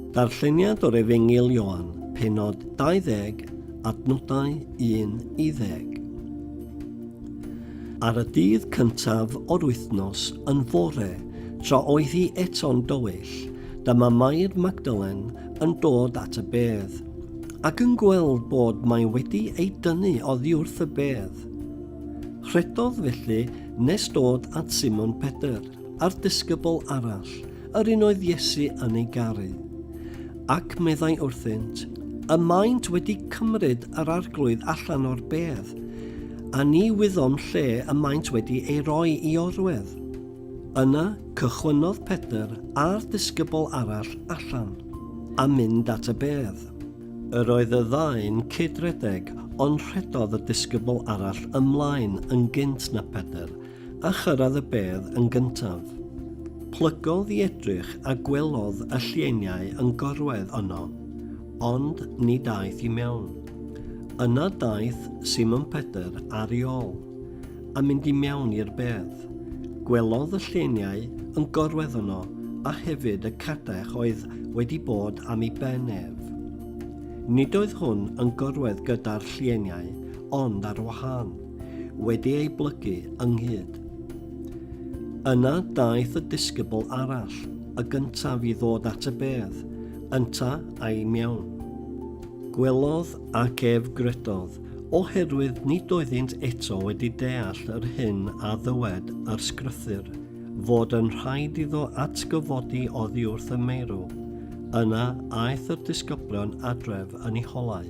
Darlleniad o'r Efengyl Ioan, penod 20, adnodau 1 i 10. Ar y dydd cyntaf o'r wythnos yn fore, tra oedd hi eto'n dywyll, dyma Mair Magdalen yn dod at y bedd, ac yn gweld bod mae wedi ei dynnu oddi wrth y bedd. Rhedodd felly nes dod at Simon Pedr, a'r disgybl arall, yr un oedd Iesu yn ei garu. Ac meddai wrthynt, Y maent wedi cymryd yr arglwydd allan o'r bedd, a ni wyddom lle y maent wedi ei roi i orwedd. Yna cychwynnodd Pedr a'r disgybl arall allan, a mynd at y bedd. Yr oedd y ddau'n cyd-redeg, ond rhedodd y disgybl arall ymlaen yn gynt na Pedr, A chyrraedd y bedd yn gyntaf. Plygodd i edrych a gwelodd y llieiniau yn gorwedd yno, ond ni daeth i mewn. Yna daeth Simon Pedr ar ei ol, a mynd i mewn i'r bedd. Gwelodd y llieiniau yn gorwedd yno, a hefyd y cadech oedd wedi bod am ei ben ef. Nid oedd hwn yn gorwedd gyda'r llieiniau, ond ar wahân. wedi ei blygu ynghyd. Yna daeth y disgybl arall, y gyntaf i ddod at y bedd, ynta a'i mewn. Gwelodd ac ef gredodd, oherwydd nid oeddynt eto wedi deall yr hyn a ddywed yr sgrythyr, fod yn rhaid iddo atgyfodi oddi wrth y meirw. Yna aeth yr disgyblion adref yn ei holau.